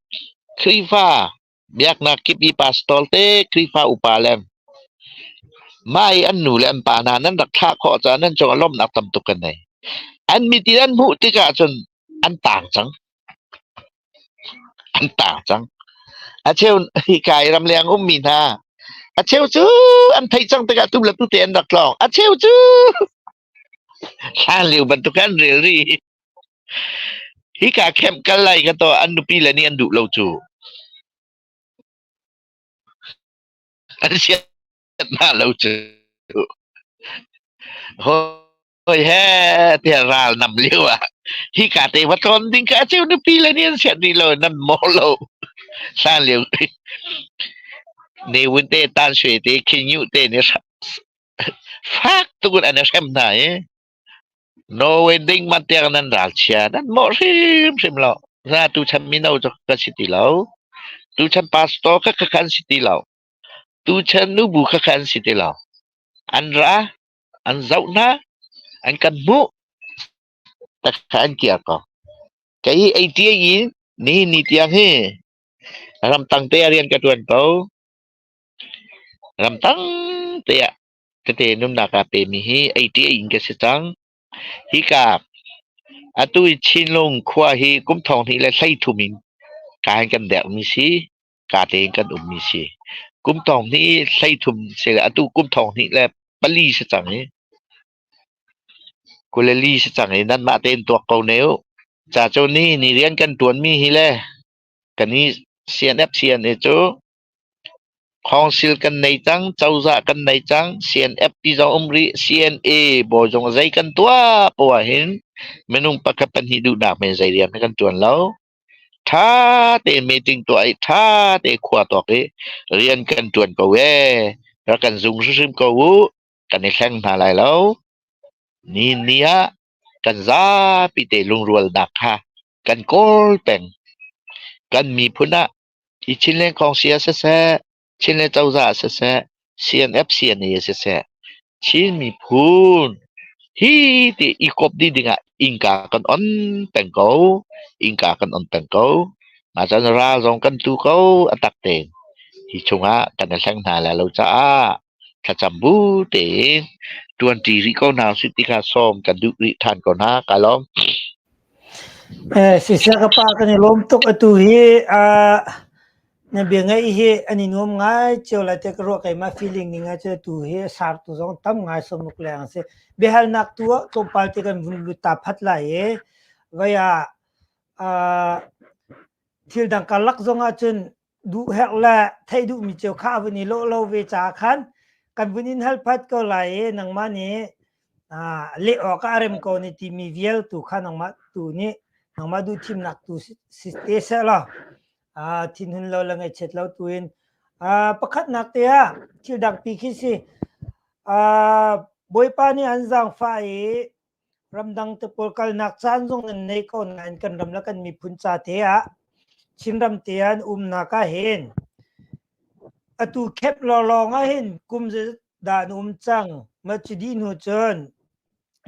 Khrihfa Biaknak kip i pastor te Khrihfa upa le mah i an nu le an pa hna nan rak thlah khawh caah nan cungah lawmhnak tam tuk kan nei. An mit in an hmuh tikah cun an tang cang. An tang cang. A cheu hika i ramleng ummi hna a cheu cu an theih cang tikah tu le tu te an rak tlawng. A cheu cu Hlanlio bantuk an rel rih. Hika camp kal lai ka tuah an nupi le nih an duh lo cu. An siat hna lo cu. Hawi he tiah ral nam lio ah hika te va tlawn ding kha a cheu nupi le nih an siat rih lo, nan mawh lo. Hlanlio ne wun te tan shwe te khin yu te ne Fak tukin an i hrem hna i Norway ding man tiang nan ral chia nan mawh hrimhrim lo. Na tuchan mino cu kan si ti lo. Tuchan pastor khakha kha an si ti lo. Tuchan nubu khakha an si ti lo. An ra, an zoh hna, an kan hmuh, takha an kia ko. Kei ATA in ni ni tiang hi ramtang te a rian ka tuan ko. Ram tangte ah tete nunnak aa pemi hi eiṭih in kan si cang. Hika atu i Chinlung khua hi kum thong hnih le hleithum in kaa in kan derhmi si, kaa tein kan ummi si. Kum thong hnih i hleithum si le atu kum thong hnih le pali si cang i kule li si cang i nanmah tein tuak ko ne u. Ca cu ni ni rian kan ṭuanmi hi le kan i CNFC an i cu Council kan nei cang, cozah kan nei cang, CNFP zong um rih, CNA bawi zong zei kan tuah poh ahhin minung pakhat pahnih duhnak men zei rian kan ṭuan lo. Ṭha tein meeting tuah i ṭha tein khua tuak i rian kan ṭuan ko ee. Rak kan zung hrimhrim ko uh, kan i thleng hna lai lo. Nihin ni ah kan zapi te lungrualnak kha kan kawl peng. Kan miphun ah Hi Chinland kongsi ah siseh, Chinland cozah ah siseh, CNFCNA ah siseh, Chin miphun hi ti i kawp dih dingah innka kan on peng ko. Innka kan on peng ko. Ngakchia nu ral zong kan tu ko a tak tein. Hi chungah kan i hleng hna lai lo caah thlacam bu tein ṭuanṭi rih ko hna usih ti kha sawm kan duh rih ṭhan ko hna. Ka lawm. Siseh ka pa kan i lawm tuk. Atu hi aa na bia ngaih hi an i nuam ngai cio lai tiah ka ruah. Keimah feeling ni ngai cu atu hi a sartu zong tam ngai sawmuk leng a si. Biahalnak tu ah tlawmpal ti kan vun lut ta phat lai i voi ah aa thildang karlak zong ahcun duhherh le theih duhmi cio kha a vun i lawh lo ve caah khan kan vun in hal phat ko lai i nangmah nih leh awk ah a rem ko ni timi vialtu kha nangmah tu nih nangmah duhthimnak tu si te seh law thinhun lo le ngaihchiat lo tu in pakhatnak te ah thil dangpi khi si bawipa nih an zaangfah i Ramdang te pawl kalnak caan zong nan nei ko nain kan ram le kan miphun ca te ah Chinram te ah an umnak ah hin atu khep lawlawng ah hin kum zeizat dah an um cang mah cu dih hnu cun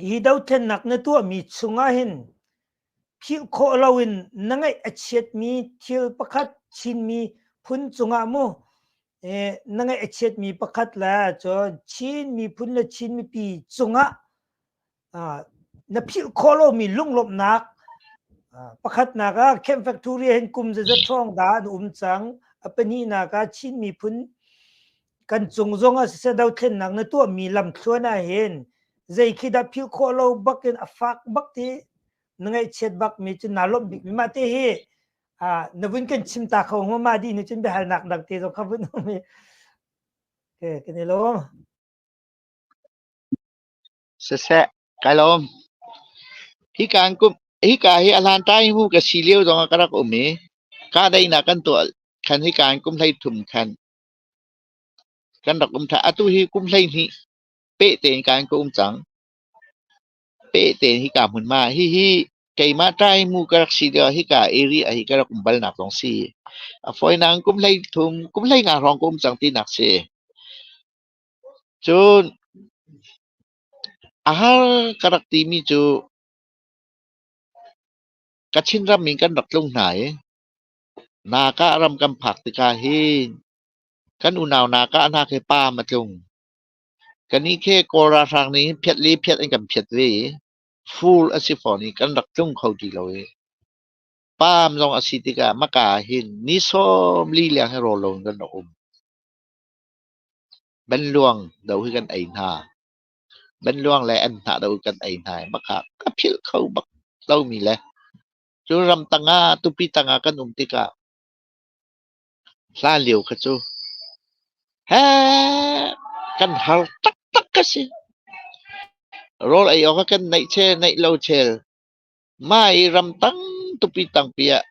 hi dothlennak na tuahmi chung ah hin philh khawh loin na ngaih a chiatmi thil pakhat Chinmi phun cungah mu na ngaih a chiatmi pakhat le cun Chin miphun le Chin mipi cungah na philh khawh lomi lunglawmhnak pakhatnak ah Camp Factory hin kum zaza ṭhawng da an um cang a pahnihnak ah Chin miphun kan cung zong ah siseh dothlennak na tuahmi lamthluan ah hin zei khi dah philh khawh lo bak in a fak bak ti na ngaihchiat bak mi cu naa lawmh bik mi mah te hi na vun kan chim ta kho hnga ma dih ni cun biahalnak dang te zong kha vun um hi okay kan i lawm siseh kai lawm hi kan kum hi ka hi ahlan tai hu ka si leo zong ka rak um i ka dai na kan to khan hi kan kum hlei thum khan Kan rak um ṭhan. Atu hi kum hleihnih peh tein ka in ka um cang. Peh tein hika hmunhma ah hihi keimah ṭaimu ka rak si lioah hika area ah hi ka rak um balnak zong si. A fawinak in kum hleithum, kum hleinga hrawng ka um cang tinak si. Cun a har ka rak timi cu Kachin ram in kan rak tlung hna i Nakah ram kan phak tikah hin kan unau nakah hna khi paam a tlung. Kannih khi Kawl ralhrang nih hin phiat le phiat an kan phiat ve i full a si fawn i kan rak tlung kho ti lo i paam zong a si tikah maka ah hin ni sawm li leng hi rawl lo in kan rak um. Banluang do hi kan ei hna. Banluang le an hnah do hi kan ei hna i maka ka philh kho bak lomi le Cu ram tangah tupi tangah kan um tikah hlan lio kha cu heh kan har taktak ka si. Rawl ei awk ah kan neih chel neih lo chel. Mai ram tang tupi tangpi ah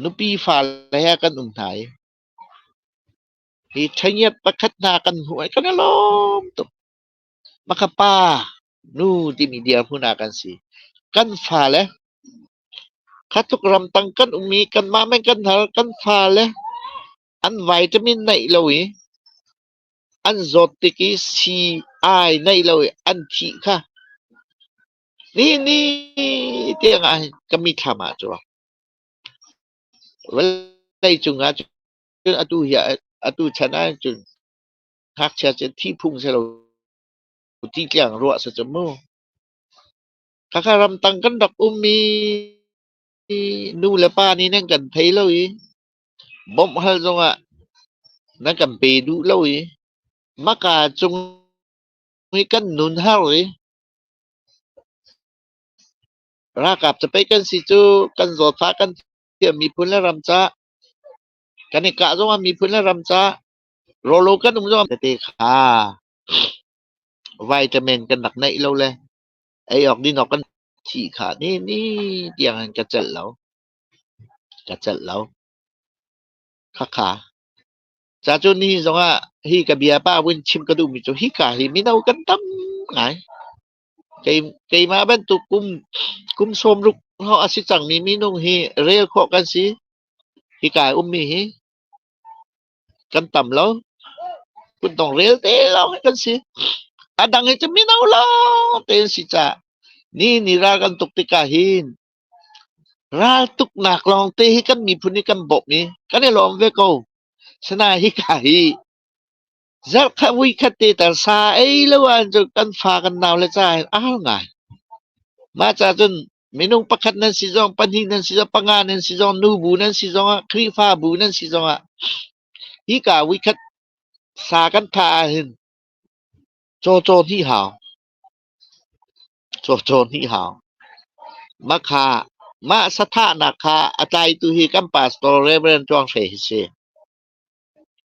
nupi fale he kan um hna i hi ṭhengiat pakhat hna kan hmuh i kan i lawm tuk. Maka pa Nu timi dirhmun ah kan si. Kan fale, kha tluk ramtang kan um i kanmah men kan har. Kan fale an vitamin neih lo i an zawt tik i sii ai neih lo i an thih kha nihin ni tiangah hin ka mithlam ah cu a vawlei cungah cun atu hi atu chan ah cun ngakchia cu thi phung si lo ti tiang ruah si cu mu. Khakha ramtang kan rak ummi nu le pa nih nan kan thei lo i bawmh hal zongah nan kan pe duh lo i maka cung i kan nun har i ralkap capei kan si cu kan zawtfah kan thiam miphun le ram ca kan i kah zongah miphun le ram ca rawlo kan um zongah tete kha Vitamin kan rak neih lo le ei awk din awk kan thih kha nini tiang hin ka celh lo. Ka celh lo. Khakha. Ca cu nihin zongah hi ka bia pa vun chim ka duhmi cu hika hi mino kan tam ngai. Keimah bantuk kum, kum sawm ruk hngawng a si cangmi minung hi rel khawh kan si. Hika i ummi hi. kan tam lo. Kutdong rel te lawng kan si. A dang hi cu mino lawng tein si caah ni ni ral kan tuk tikah hin ral tuknak lawng te hi kan miphun i kan bawmh i kan i lawm ve ko. Sina hika hi zarh khat vui khat te tar sa ei lo ahcun kan fa kan nau le ca in a har ngai. Mah ca cun Minung pakhat nan si zong, pahnih nan si zong, panga nan si zong, nubu nan si zong ah, Khrihfabu nan si zong ah, hika vuikhat sa kan tha ah hin cawcaw ni hau. Cawcaw ni hau. Ma kha, mah sathahnak kha a tlaitu hi kan pastor Reverend Chuang Hre hi si.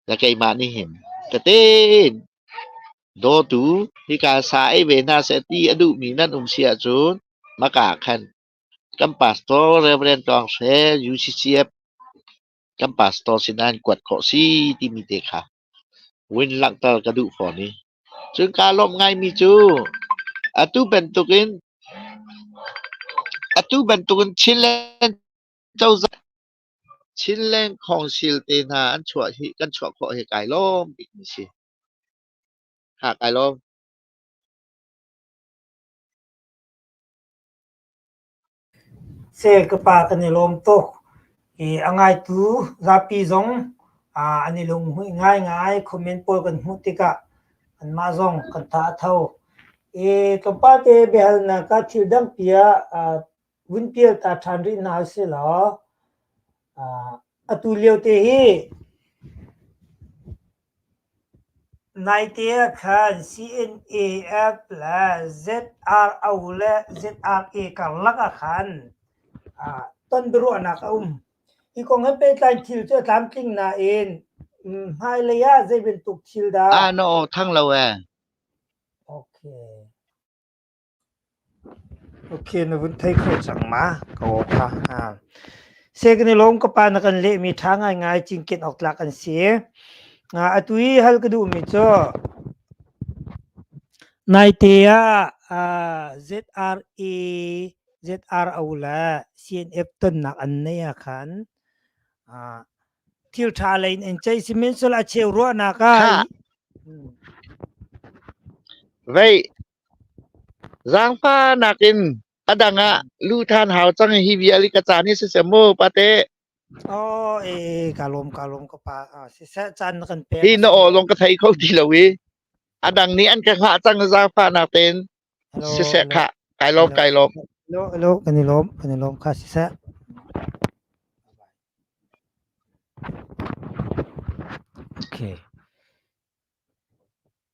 Na keimah nih hin tete in dawtu hika sa ei ve hna seh ti a duhmi nan um si ahcun maka khan kan pastor Rev. Tawng Hre UCCF kan pastor sinah kuat khawh si timi te kha vun langhter ka duh fawn i cun kaa lawmh ngaimi cu atu bantukin atu bantukin Chinland cozah Chinleng khawngsil te hna an chuah hi kan chuah khawh hi kai lawm bikmi si. Ha kai lawm. Seh ka pa kan i lawm tuk. I a ngaitu zapi zong ah an i lunghmuih ngaingai. Comment pawl kan hmuh tikah anmah zong kan tha a tho. I tlawmpal te biahalnak ka thil dangpi ah ah vun pial ta ṭhan rih hna selaw atu liote hi naite ah khan CNAF le ZRO le ZRA karlak ah khan ton biaruahnak a um. Hi kong he pehtlai thil cu a tlamtling nain hmailei ah zei bantuk thil dah Ah no thang lo e. Okay. Okay, na vun thei kho cang ma? Ka aw pha hnga. Seh kan i lawm ka pa na kan lehmi ṭha ngaingai cinken awk tlak an si. Atu i hal ka duhmi cu naite ah ZRA, ZRO le CNF tonnak an nei ahkhan thil ṭha lei in an ceih. Sihmanhsehlaw a cheu ruahnak ah. Vei. Zaangfah nakin a dang ah lu ṭhan hau cang hi vial i ka caan hi siseh maw pate? Aw e kaa lawm kaa lawm ka pa siseh caan na kan pek hi na aw lawng ka thei kho ti lo i a dang nih an ka hngah cang zaangfahnak tein siseh khah kai lawm kai lawm. Helo helo kan i lawm kan i lawm kha siseh. Okay.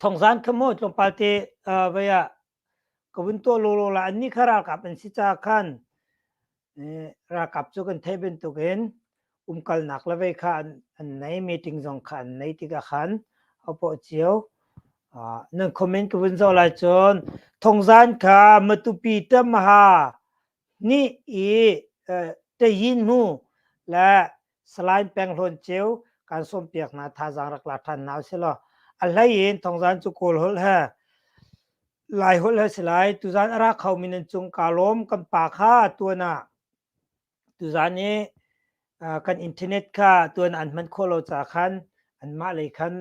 thongzan kha maw tlawmpal te vei ah ka vun tuah lawlaw la an ni kha ralkap an si caah khan ralkap cu kan theih bantukin umkalnak la vei kha an nei meeting zong kha an nei tikah khan a paw cio nan comment ka vun zoh lai cun thongzan kha matupi tamaha nih i teyin mu le salain penghlawn ceu kan sawmpiak hna thazaang rak la ṭhan hna usilaw a hlei in thongzan cu kawl holh he lai holh he si lai tuzan a ra kho mi nan cung kaa lawm kan pa kha tuan ah tuzan i kan internet kha tuan an hman khawh lo ca khan anmah lei khan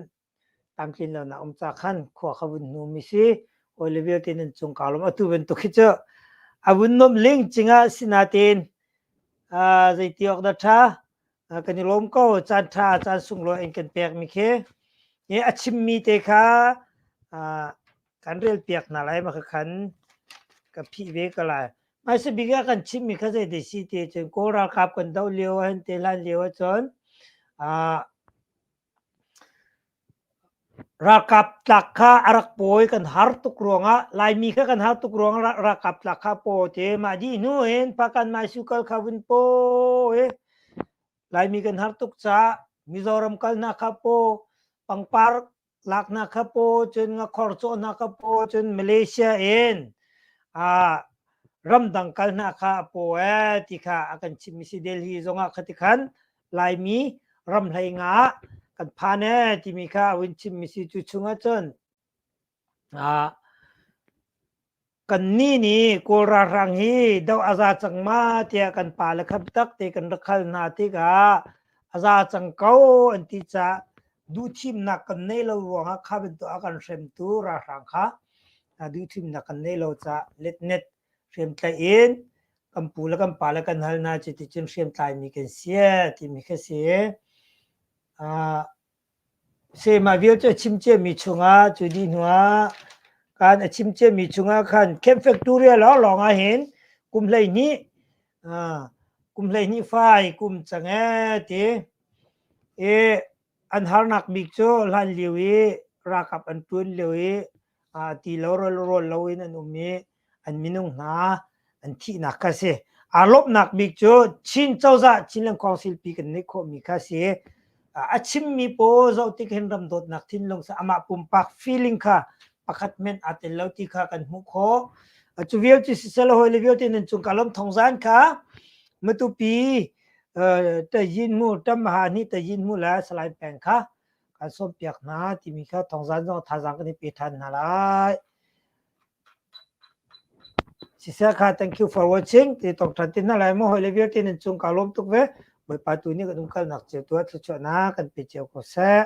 tangtlinlonak um ca khan khua kha vun hnumi si hawi le vialte nan cung kaa lawm atu bantuk hi cu a vun nuamh ling cingah sinatein uh, zeiti awk dah tha uh, kan i lawm ko caan tha caan sunglawi in kan pek mi khi i a chimmi te kha uh, kan rel piak na lai ma ka khan ka phi ve ka lai mai se bika kan chimmi kha zei de si te cun kawl ralkap kan do lio an te lan lio a cun uh, Ralkap tlak kha a rak pawi kan har tuk ruangah Laimi kha kan har tuk ruangah ralkap tlak kha pawi te mah dih hnu hin Pakan Maisukal kha vun pawi Laimi kan har tuk caah Mizoram kalnak kha paw pangpar laknak kha paw cun ngakhor cawhnak kha paw cun Malaysia in ah ramdang kalnak kha a pawi ti kha a kan chimh mi si Delhi zongah khati khan Laimi ram hleinga ah kan phan ee timi kha a vun chimmi si tu chungah cun ah kan ni ni kawl ralhrang hi do a za cang ma tiah kan pa le kham tak te kan rak hal hna tikah a za cang ko an ti ca duhthimnak kan nei lo ruangah kha bantuk a kan hremtu ralhrang kha duhthimnak kan nei lo ca let net hriamtlaih in kan pu le kan pa le kan hal hna cuticun hriamtlaimi kan si timi khi si. Uh, se mah vialte a chim ciami chungah cu dih hnuah kan a chim ciami chungah khan camp factory lawnglawng ah hin kum hlei hnih uh, kum hlei hnih fai kum change ti e an harnak bik cu hlanlio i ralkap an ṭun lio i ti lo rawl lo in an um i an minung hna an thihnak kha a si. Aa lawmhnak bik cu Chin cozah Chinland Council pi kan neih khawhmi kha a si. A chimmi pawl zoh tik hin ram dawtnak thinlung sa amah pumpak feeling kha pakhat men aa tel lo ti kha kan hmuh khawh. Cu vialte siseh le hoi le vialte nan cung ka lawm thong zan kha matupi Tayin mu tam ha ni tayin mu la salai peng kha kan som piak hna timi kha thongzan zong thazang kan i pe than hna lai. Siseh kha thank you for watching ti tong than tin na lai mo hoi le vial tin chung ka lom tuk ve bawipa tu ni kan um kal nak ceu tua thu chuah na kan pe ceu ko seh.